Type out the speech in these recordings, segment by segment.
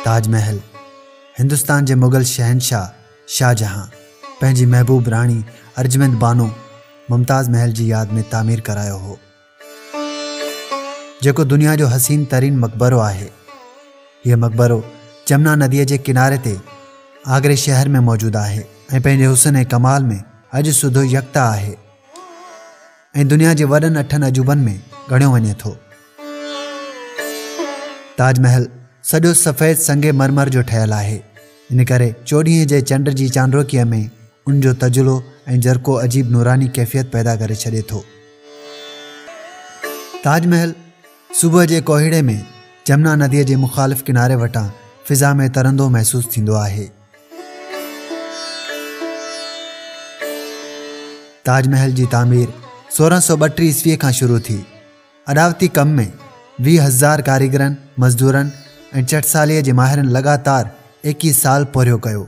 تاج محل هندستان جي مغل شهنشاهه شاهجهان پنهنجي محبوب راڻي ارجمند بانو ممتاز محل جي ياد ۾ تعمير ڪرايو هو جيڪو دنيا جو حسين ترين مقبرو آهي هيء مقبرو جمنا نديء جي ڪناري تي آگري شهر ۾ موجود آهي ۽ پنهنجي حسن ۽ ڪمال ۾ اڄ سڌو يڪتا آهي ۽ دنيا جي وڏن اٺن عجوبن ۾ ڳڻيو وڃي ٿو تاج محل سڄو سفيد سنگ مرمر جو ٺهيل آهي ان ڪري چوڏهين جي چنڊ جي چانڊوڪيء ۾ ان جو تجلو ۽ جرڪو عجيب نوراني ڪيفيت پيدا ڪري ڇڏي ٿو تاج محل صبح جي ڪوهيڙي ۾ جمنا نديء جي مخالف ڪناري وٽان فضا ۾ ترندو محسوس ٿيندو آهي. تاج محل جي تعمير سورهن سؤ ٻٽيهه عيسويء کان شروع ٿي اڏاوتي ڪم ۾ ويهه هزار ڪاريگرن مزدورن ۽ چٽساليء جي ماهرن لڳاتار ايڪيهه سال پورهيو ڪيو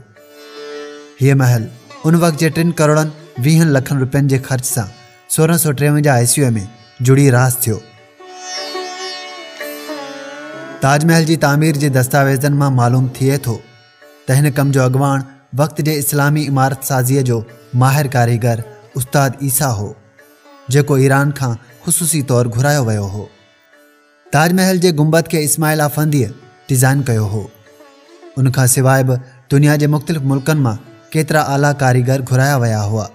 هيء محل ان وقت جي ٽن ڪروڙن ويهن لکن روپين جي خرچ سان سورهن سؤ ٽيونجاهه عيسويء ۾ جڙي راس ٿيو تاج محل جي تعمير جي دستاويزن مان معلوم ٿئي ٿو ته هن ڪم جو اڳواڻ وقت جي اسلامي عمارت سازيء جو ماهر ڪاريگر استاد عيسا هو جيڪو ايران کان خصوصي طور گهرايو ويو هو تاج محل جي گنبد کي اسماعيل آفنديء ڊيزائن ڪيو هو. ان کان سواء به دنيا جي مختلف ملڪن مان ڪيترا اعليٰ ڪاريگر گهرايا ويا هئا،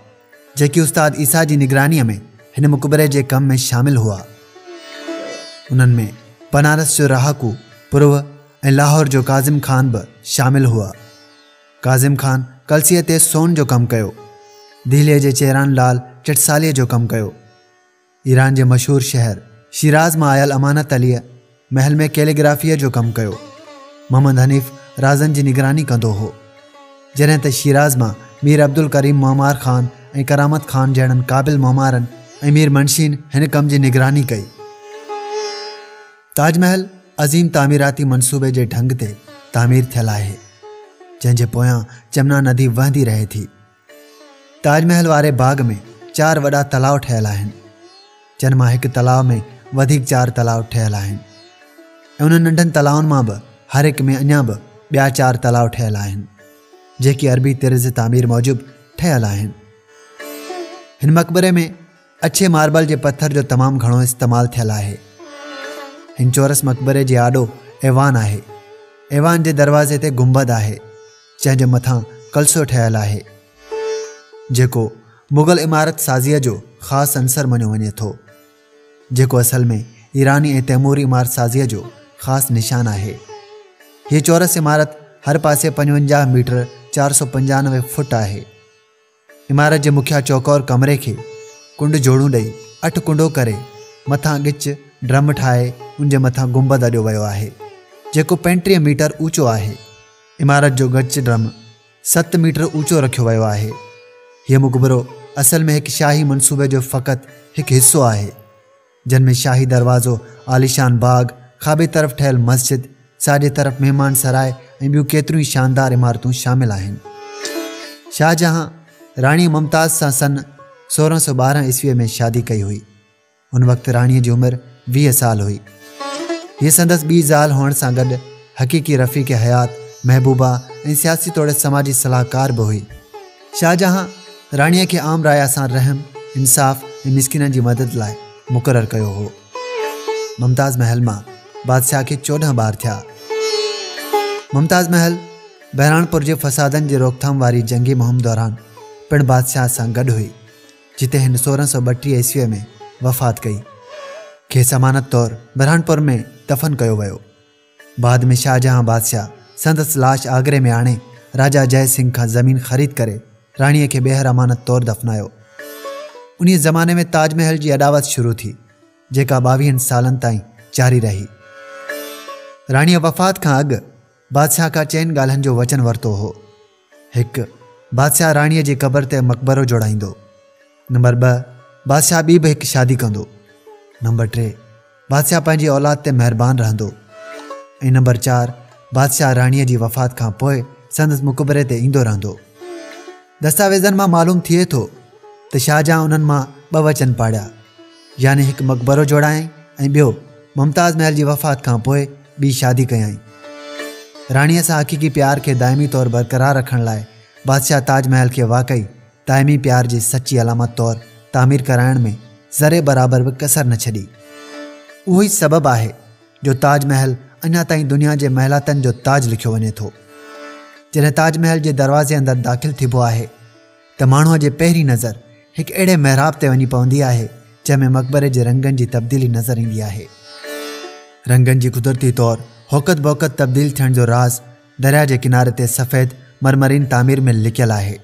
جيڪي استاد عيسيٰ جي نگرانيء ۾ هن مقبري جي ڪم ۾ شامل هئا. انهن ۾ بنارس جو رهاڪو پروه ۽ لاهور جو ڪاظم خان به شامل هئا. ڪاظم خان ڪلسيء تي سون جو ڪم ڪيو. دهليء جي چيران لال ٽٽساليء جو ڪم ڪيو. ايران جي مشهور شهر شيراز مان آيل امانت عليء محل ۾ ڪيليگرافيء جو ڪم ڪيو. محمد حنيف رازن جي نگراني ڪندو هو. جڏهن ته شيراز مان مير عبدالڪريم معمار خان ۽ ڪرامت خان جهڙن قابل معمارن ۽ مير منشين هن ڪم جي نگراني ڪئي. تاج محل عظيم تعميراتي منصوبي جي ڍنگ تي تعمير ٿيل آهي، جنهن جي پويان جمنا ندي وهندي رهي ٿي. تاج محل واري باغ ۾ چار وڏا تلاء ٺهيل آهن جن مان هڪ تلاء ۾ وڌيڪ چار تلاء ٺهيل آهن ۽ انهن ننڍن تلائن مان به هر هڪ ۾ اڃا به ٻيا چار تلاء ٺهيل آهن جيڪي عربي طرز تعمير موجب ٺهيل آهن هن مقبري ۾ اڇي ماربل جي پٿر جو تمام گهڻو استعمال ٿيل آهي هن چورس مقبري جي آڏو ايوان آهي ايوان جي دروازي تي گنبد آهي جنهن جي مٿان ڪلسو ٺهيل آهي جيڪو مغل عمارت سازيء جو خاص عنصر مڃيو وڃي ٿو جيڪو اصل ۾ ايراني ۽ تيموري عمارت سازيء جو خاص نشان آهي هيء چورس عمارت هر پاسي پنجونجاهه ميٽر چار سؤ پنجانوي فٽ آهي عمارت جي مکيه چوڪور ڪمري کي ڪنڊ جوڙون ڏئي اٺ ڪنڊو ڪري مٿان ڳچ ڊرم ٺاهي ان جي مٿان گنبد اڏيو ويو آهي جيڪو پنٽيهه ميٽر اوچو آهي. عمارت جو ڳچ ڊرم ست ميٽر اوچو رکيو ويو آهي. هيء مقبرو اصل ۾ هڪ شاهي منصوبي جو فقط هڪ حصو آهي. جن ۾ شاهي دروازو، عاليشان باغ، کاٻي طرف ٺهيل مسجد، ساڄي طرف مهمان سراء ۽ ٻيون ڪيتريون ئي شاندار عمارتون شامل آهن. شاهجهان راڻي ممتاز سان سن سورهن سؤ ٻارهن عيسويء ۾ شادي ڪئي هئي. ان وقت راڻيء جي عمر ويهه سال هئي. هيء سندس ٻي زال هئڻ سان گڏ حقيقي رفيق حيات، محبوبه ۽ سياسي توڙي سماجي صلاحڪار به هئي. شاهجهان راڻيء کي عام رعايا سان رحم، انصاف ۽ مسڪينن جي مدد لاء مقرر ڪيو هو. ممتاز محل مان بادشاهه کي چوڏهن ٻار ٿيا. ممتاز محل بهراڻپور جي فسادن جي روڪٿام واري جنگي مهم دوران پڻ بادشاهه سان گڏ هئي، جتي هن سورهن سؤ ٻٽيهه عيسويء ۾ وفات ڪئي. کيس امانت طور بهراڻپور ۾ دفن ڪيو ويو. بعد ۾ شاهجهان بادشاهه سندس لاش آگري ۾ آڻي راجا جئه سنگهه کان زمين خريد ڪري راڻيء کي ٻيهر امانت طور دفنايو. انهيء زماني ۾ تاج محل جي اڏاوت شروع ٿي، جيڪا ٻاويهن سالن تائين جاري رهي. راڻيء وفات کان اڳ بادشاهه کان چئن ڳالهن جو وچن ورتو هو. هڪ، بادشاهه راڻيء جي قبر تي مقبرو جوڙائيندو. نمبر ٻه، بادشاهه ٻي به هڪ شادي ڪندو. نمبر ٽي، بادشاهه پنهنجي اولاد تي مهربان رهندو. ۽ نمبر چار، بادشاهه راڻيء جي وفات کان پوء سندس مقبري تي ايندو رهندو. دستاويزن مان معلوم ٿئي ٿو ته شاهجهان انهن مان ٻه وچن پاڙيا. يعني هڪ مقبرو جوڙايائين ۽ ٻيو ممتاز محل جي وفات کان پوء ٻي شادي ڪيائين. راڻيء سان حقيقي پيار کي دائمي طور برقرار رکڻ لاء بادشاهه تاج محل کي واقعي دائمي پيار جي سچي علامت طور تعمير ڪرائڻ ۾ ذري برابر به ڪسر نه ڇڏي. اهو ئي سبب آهي جو تاج محل اڃا تائين دنيا جي محلاتن جو تاج لکيو وڃي ٿو. جڏهن تاج محل جي دروازي اندر داخل ٿيبو آهي، ته ماڻهوء جي پهرين نظر هڪ اهڙي محراب تي وڃي پوندي آهي، جنهن ۾ مقبري جي رنگن جي تبديلي نظر ايندي آهي. رنگن جي قدرتي طور هوقت بوقت تبديل ٿيڻ جو راز درياهه جي ڪناري تي سفيد مرمرين تعمير ۾ لڪيل آهي.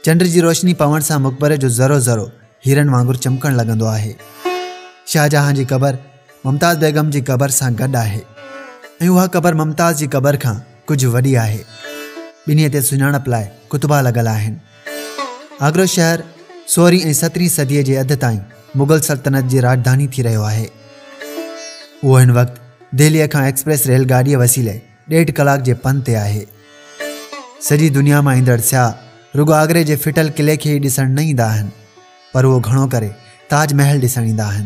چنڊ جي روشني پوڻ سان مقبري جو ذرو ذرو هيرن وانگر چمڪڻ لڳندو آهي. شاهجهان جي قبر ممتاز بيگم جي قبر سان گڏ آهي ۽ اها قبر ممتاز جي قبر کان ڪجهه وڏي آهي ٻنهي تي سڃاڻپ لاء ڪتبا لڳل آهن آگرو شهر سورهين ۽ سترهين صديء جي اڌ تائين مغل سلطنت جي راڄڌاني ٿي رهيو آهي اهو هن وقت دهليء کان ايڪسپريس ريل گاڏيء وسيلي ڏيڍ ڪلاڪ جي پن تي آهي سڄي دنيا مان ايندڙ سياح رڳو آگري جي ڦٽل قلعي کي ئي ڏسڻ نه ايندا آهن پر اهو گهڻو ڪري تاج محل ڏسڻ ايندا آهن.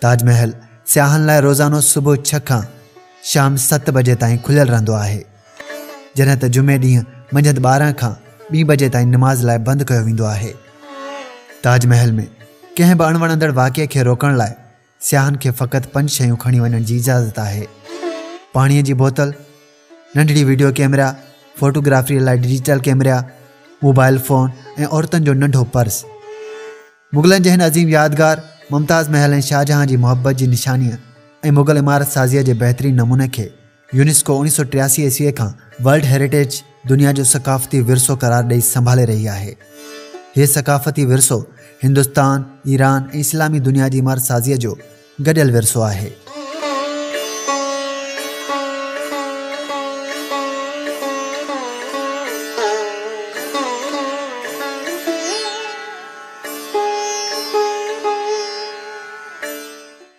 تاج محل سياحن لاء روزانو صبح ڇهه کان شام ست بجي تائين کليل رهندو آهي. جڏهن ته جمعي ڏينهن منجهند ٻارهن کان ٻي بجي تائين نماز لاء بند ڪيو ويندو آهي. تاج محل ۾ ڪنهن به اڻوڻندڙ واقعي کي روڪڻ لاء سياحن کي فقط پنج شيون کڻي وڃڻ جي اجازت آهي پاڻي جي بوتل ننڍڙي ويڊيو ڪيمرا فوٽوگرافي لاء ڊيجيٽل ڪيمرا موبائل فون ۽ عورتن جو ننڍو پرس مغلن جي هن عظيم يادگار ممتاز محل ۽ شاهجهان جي محبت جي نشاني ۽ مغل عمارت سازيء جي بهترين نموني کي يونيسڪو اوڻيهه سؤ ٽياسي عيسويء کان ورلڊ هيريٽيج، دنيا جو ثقافتي ورثو قرار ڏئي سنڀالي رهي آهي. هي ثقافتي ورثو هندستان، ايران ۽ اسلامي دنيا جي عمارت سازيء جو گڏيل ورثو آهي.